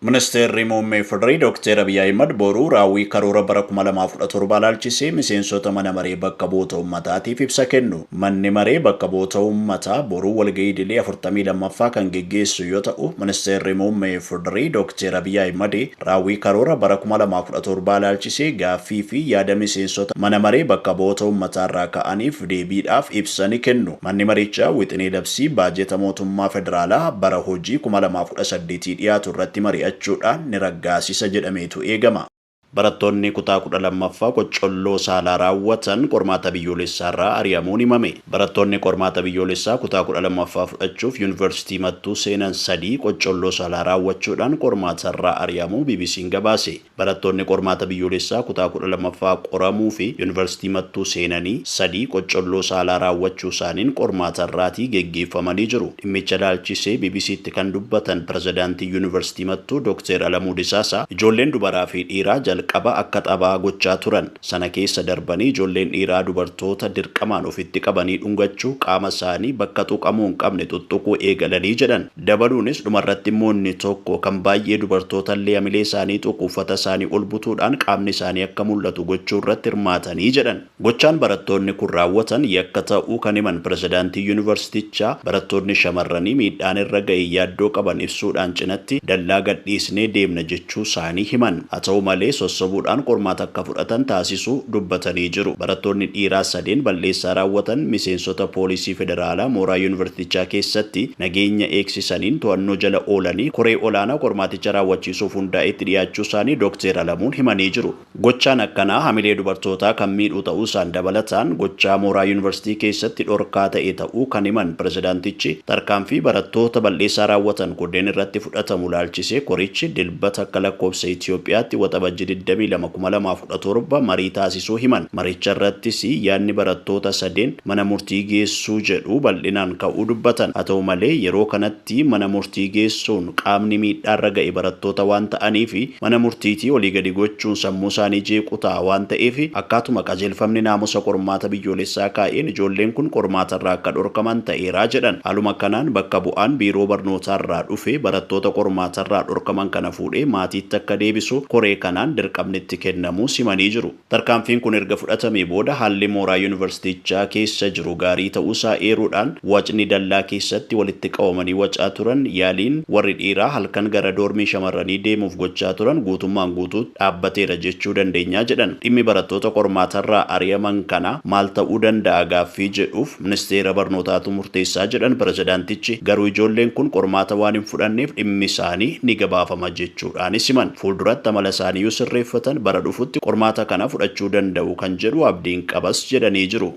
Ministeerri Muummee Federee Dookteer Abiy Ahimad boru raawwii karoora bara 2017 ilaalchisee miseensota Mana Maree Bakka Bu'oota Ummataatiif ibsa kennu. Manni Maree Bakka Bu'oota Ummataa boru walga'ii idilee 42ffaa kan geggeessu yoo ta'u, Ministeerri Muummee Federee Dookteer Abiy Ahimad raawwii karoora bara 2017 ilaalchisee gaaffii fi yaada miseensota Mana Maree Bakka Bu'oota Ummataarraa ka'aniif deebiidhaaf ibsa ni kennu. Manni Marichaa wixinee labsii baajeta mootummaa federaalaa bara hojii 2018 dhiyaatu irratti mari'achuudhaan ni raggaasisa jedhameetu eegama. Barattoonni kutaa 12ffaa qoccolloo saalaa raawwatan qormaata biyyoolessaarraa ari'amuun himame. Barattoonni qormaata biyyoolessaa kutaa 12ffaa fudhachuuf Yuunivarsiitii Mattuu seenan sadii qoccolloo saalaa raawwachuudhaan qormaatarraa ari'amuu BBC'n gabaase. Barattoonni qormaata biyyoolessaa kutaa 12ffaa qoramuufi Yunivarsiitii Mattuu seenanii sadii qoccolloo saalaa raawwachuusaaniin qormaata irraatii geggeeffamanii jiru. Dhimmicha ilaalchisee BBC'tti kan dubbatan Pirezidaantiin Yunivarsiitii Mattuu Dokteer Alamuu Disaasaa, ijoolleen dubaraafi dhiiraa jalqaba akka taphaa gochaa turan sana keessa darbanii ijoolleen dhiiraa dubartoota dirqamaan ofitti qabanii dhungachuu, qaama isaanii bakka xuqamuu hin qabne xuxxuquu eegalanii jedhan. Dabaluunis dhumarratti immoo inni tokko kan baay'ee dubartoota illee hamilee isaanii tuqu uffata isaanii ol butuudhaan qaamni isaanii akka mul'atu gochuu irratti hirmaatanii jedhan. Gochaan barattoonni kun raawwatan yakka ta'uu kan himan pirezidaantiin yunivarsitichaa, barattoonni shamarranii miidhaan irra gahe yaaddoo qaban ibsuudhaan cinatti dallaa gadhiisnee deemna jiraachuu-saanii himan. Haa ta'uu malee sossobuudhaan qormaata akka fudhatan taasisuu dubbatanii jiru. Barattoonni dhiiraa sadeen bal'eessaa raawwatan miseensota poolisii federaalaa mooraa yuunivarsitichaa keessatti nageenya eegsisaniin to'annoo jala oolanii koree olaanaa qormaaticha raawwachiisuuf hundaa'etti dhiyaachuu-saanii Dokteer Alamuun himanii jiru. Gochaan akkanaa hamilee dubartootaa kan miidhuu ta'uusaan dabalataan gochaa mooraa Yuunivarsiitii keessatti dhorkaa ta'e ta'uu kan himan pirezidaantichi, tarkaanfii barattoota bal'eessaa raawwatan kunneen irratti fudhatamu ilaalchisee korichi Dilbata akka lakkoofsa Itiyoophiyaatti Waxabajjii digdamii lama, kuma lamaa fi kudha torba marii taasisuu himan. Maricharrattis yaadni barattoota sadeen mana murtii geessuu jedhu bal'inaan ka'uu dubbatan. Haa ta'u malee yeroo kanatti. tti mana murtii geessuun qaamni miidhaarra ga'e barattoota waan ta'aniif mana murtiitii olii gadi gochuun sammuu isaanii jeequu ta'a waan ta'eef akkaatuma qajeelfamni naamusa qormaata biyyoolessaa kaa'een ijoolleen kun qormaatarraa akka dhorkaman ta'eera jedhan. Haaluma kanaan bakka bu'aan biiroo barnootaarraa dhufe barattoota qormaatarraa dhorkaman kana fuudhee maatiitti akka deebisu koree kanaan dirqamni itti kennamuu simanii jiru. Tarkaanfiin kun erga fudhatamee booda haalli mooraa Yuunivarsiitichaa keessa jiru gaarii ta'uusaa eeruudhaan, wacni dallaa keessatti walitti qabamanii wacaa turan, yaaliin warri dhiiraa halkan gara doormii shamarranii deemuuf gochaa turan guutummaan guutuutti dhaabbateera jechuu dandeenya jedhan. Dhimmi barattoota qormaatarraa ari'aman kanaa maal ta'uu danda'a gaaffii jedhuuf, Ministeera Barnootaatu murteessaa jedhan Pirezidaantichi, garuu ijoolleen kun qormaata waan hin fudhanneef dhimmi isaanii ni gabaafama jechuudhaanis himan. Fuulduratti amala isaanii yoo sirreeffatan bara dhufutti qormaata kana fudhachuu danda'u kan jedhu abdiin qabas jedhanii jiru.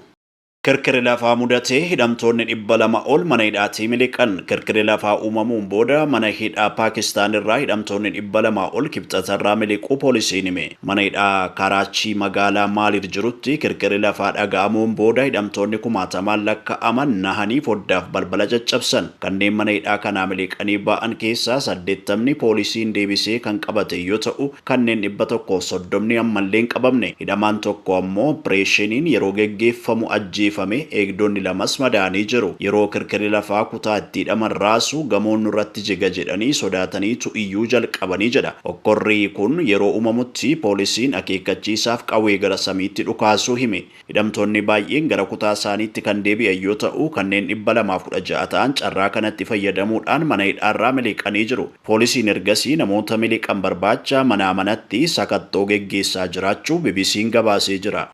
Kirkirri lafaa mudate, hidhamtoonni dhibba lama ol mana hidhaatii miliqan. Kirkirri lafaa uumamuun booda mana hidhaa Paakistaan irraa hidhamtoonni dhibba lama ol Kibxatarraa miliquu poolisiin hime. Mana hidhaa Karaachii magaalaa Maaliid jirutti kirkirri lafaa dhaga'amuun booda hidhamtoonni kumaatamaan lakka'aman nahanii foddaaf balbala caccabsan. Kanneen mana hidhaa kanaa miliqanii ba'an keessaa saddeettamni poolisiin deebisee kan qabate yoo ta'u, kanneen dhibba tokkoo fi soddomni ammallee hin qabamne. Hidhamaan tokko ammoo oppireeshiniin yeroo geggeeffamu ajjeefame, eegdonni lamas madaa'anii jiru. Yeroo kirkirri lafaa kutaa itti hidhaman raasu gamoon nurratti jiga jedhanii sodaataniitu iyyuu jalqabani jedha. Hokkorri kun yeroo uumamutti poolisiin akeekkachiisaaf qawwee gara samiitti dhukaasuu hime. Hidhamtoonni baay'een gara kutaa isaaniitti kan deebi'an yoo ta'u, kanneen 216 ta'an carraa kanatti fayyadamuudhaan mana hidhaarraa miliqanii jiru. Poolisiin ergasii namoota miliqan barbaacha manaa manatti sakattoo geggeessaa jiraachuu BBC'n gabaasee jira.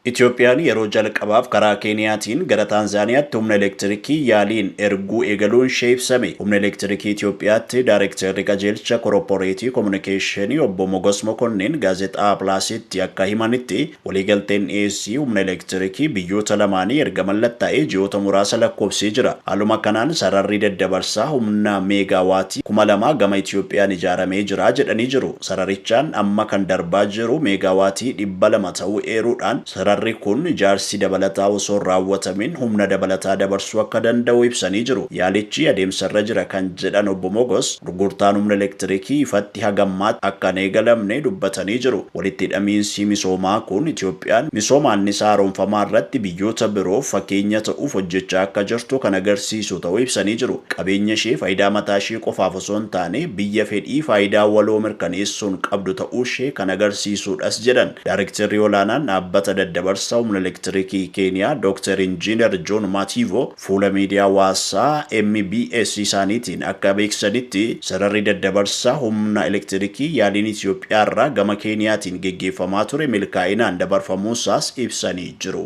Itoophiyaan yeroo jalqabaaf karaa Keeniyaatiin gara Taanzaaniyaatti humna elektirikii yaaliin erguu eegaluun ishee ibsame. Humna Elektirikii Itoophiyaatti Daarektarri Qajeelcha Koropporeetii Komunikeeshinii Obbo Mogos Mokonnin Gaazexaa Plaasitti akka himanitti, waliigalteen dhiyeessii humna elektirikii biyyoota lamaanii erga mallattaa'ee ji'oota muraasa lakkoofsee jira. Haaluma kanaan sararri daddabarsaa humna Meegaa Waatii kuma lama gama Itoophiyaan ijaaramee jira jedhanii jiru. Sararichaan amma kan darbaa jiru meegaawaatii 200 ta'uu eeruudhaan, sararri kun ijaarsi dabalataa osoo hin raawwatamin humna dabalataa dabarsuu akka danda'u ibsanii jiru. Yaalichi adeemsarra jira kan jedhan Obbo Mogos, gurgurtaan humna elektirikii ifatti haga ammaatti akka hin eegalamne dubbatanii jiru. Walitti hidhamiinsi misoomaa kun Itiyoophiyaan misooma annisaa haaromfamaarratti biyyoota biroof fakeenya ta'uuf hojjechaa akka jirtu kan agarsiisu ta'uu ibsanii jiru. Qabeenyashee faayidaa mataashee qofaaf osoo. osoo hin taane biyya fedhii faayidaa waloo mirkaneessuun qabdu ta'uushee kan agarsiisuudhas jedhan Daarektarri Olaanaan Dhaabbata Daddabarsa Humna Elektirikii Keeniyaa Dooktar Injiinar Joon Maatiivo fuula miidiyaa hawaasaa MBS isaaniitiin akka beeksisanitti sararri daddabarsa humna elektirikii yaaliin Itiyoophiyaarraa gama Keeniyaatiin geggeeffamaa ture milkaa'inaan dabarfamuusaas ibsanii jiru.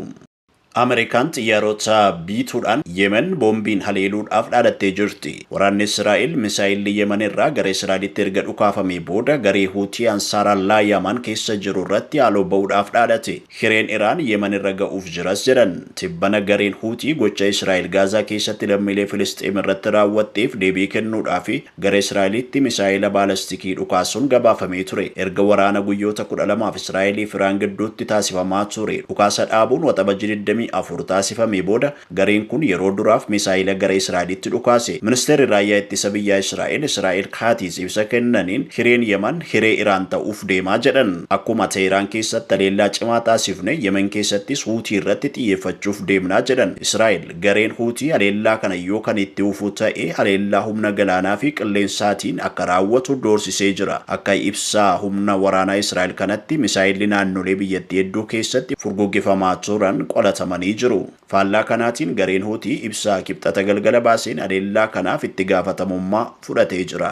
Ameerikaan xiyyaarota biituudhaan Yemen boombiin haleeluudhaaf dhaadattee jirti. Waraanni Israa'el misaa'elli Yemen irraa gara Israa'elitti erga dhukaafamee booda garee Huutii Ansaaraallaah Yamaan keessa jiru irratti haaloo ba'uudhaaf dhaadate. Hireen Iraan Yemen irra ga'uuf jiras jedhan. Tibbana gareen Huutii gocha Israa'el Gaazaa keessatti lammiilee Filisxeem irratti raawwatteef deebii kennuudhaaf Gara Israa'elitti misaa'ela baalastikii dhukaasuun gabaafamee ture. Erga waraana guyyoota kudha lamaaf Israa'elii fi Iraan gidduutti taasifamaa ture dhukaasa dhaabuun Waxabajjii digdamii afur taasifamee booda gareen kun yeroo duraaf misaa'ela gara Israa'elitti dhukaase. Ministeerri Raayyaa Ittisa Biyyaa Israa'el Israa'el Kaatiz ibsa kennaniin hireen Yaman hiree Iraan ta'uuf deema jedhan. Akkuma Teehraan keessatti haleellaa cimaa taasifne Yemen keessattis Huutii irratti xiyyeeffachuuf deemna jedhan. Israa'el. Gareen Huutii haleellaa kana yoo kan itti fufu ta'e haleellaa humna galaanaa fi qilleensaatiin akka raawwatu doorsisee jira. Akka ibsa humna waraanaa Israa'el kanatti misaayelli naannolee biyyattii hedduu keessatti furguggifamaa turan qolatamanii jiru. Faallaa kanaatiin gareen Huutii ibsa Kibxata galgala baaseen haleellaa kanaaf itti gaafatamummaa fudhatee jira.